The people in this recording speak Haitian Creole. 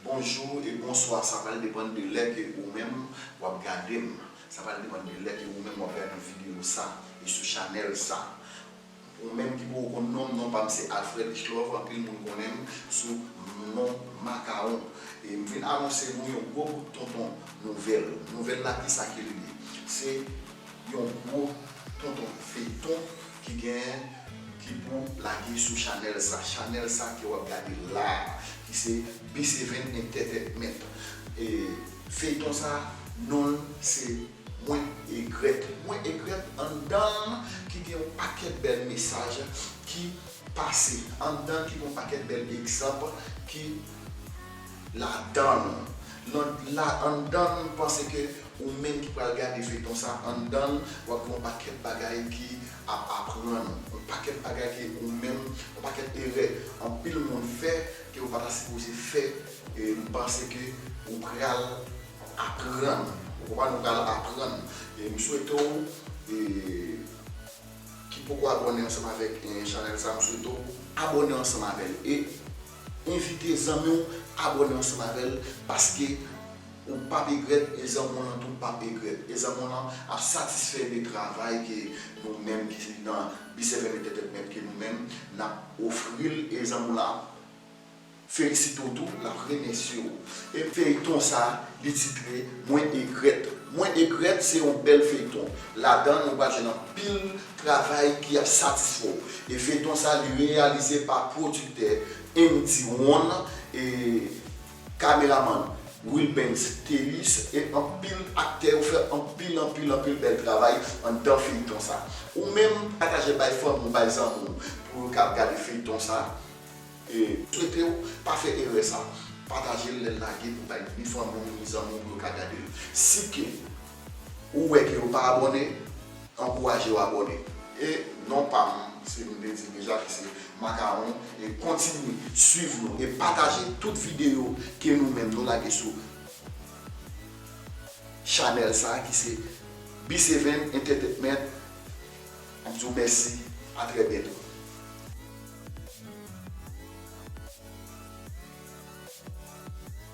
Bonjou e bonswa sa pral depann de lè ke ou menm wap gadem sa pral depann de lè ke ou menm wap gade video sa e sou chanèl sa ou menm ki poko konn nonm non pam se Alfred Richelove anpil moun konnenm sou non Makawon e m vin anonse nou yon gwo kout tonton nouvèl nouvèl la kisa ke li ye se yon gwo tonton feyton ki gen ki pou lage sou chanèl sa chanèl sa ke wap gade la ki se B7 entertainment e feyton sa nonl se mwen egrèt mwen egrèt anndanl ki gen yon pakèt bèl mesaj ki pase anndanl ki gen yon pakèt bèl egzanp ki ladanl nan la anndan m panse ke ou menm ki pral gade feyton sa anndan l wap gen yon pakèt bagay ki ap aprann ou yon pakèt bagay ke ou menm yon pakèt erè anpil moun fè ke ou pata sipoze fè m panse ke ou pral aprann ou konprann ou pral aprann m swete w ki poko abòne ansanm avèk chanèl sa m swete w abòne ansanm avèl e. Envite zanmi w abone ansanm avè l paske ou pap egrèt e zanmi w lan tou pap egrèt e zanmi w lan ap satisfè de travay ke nou menm ki nan Bicef Enètètètmèt ke nou menm nap ofri l e zanmi w lan ap felisite w tou lap remèsye w e feyton sa li titre mwen egrèt mwen egrèt se yon bèl feyton ladan nou pral jwenn anpil Travay ki ap satisfè w. E feyton sa li reyalize pa pwodiktè Emdy Won e kameramann Wilbens Théus e anpil aktè yo fè anpil anpil anpil bèl travay anndan feyton sa. Ou menm pataje bay fanmi w bay zanmi w pou yo ka gade feyton sa e swete w pa fè erè sa pataje l lè l lage pou bay ni fanmi w ni zanmi w pou yo ka gade l. Si ke. Ou wè ke yo pa abòne, ankouraje yo abòne. E non pa m se m te di deja ki se Makawon e kontinye swiv nou e pataje tout videyo ke nou menm nou lage sou chanèl sa ki se B-seven Entetetment m di w mèsi a trè byento.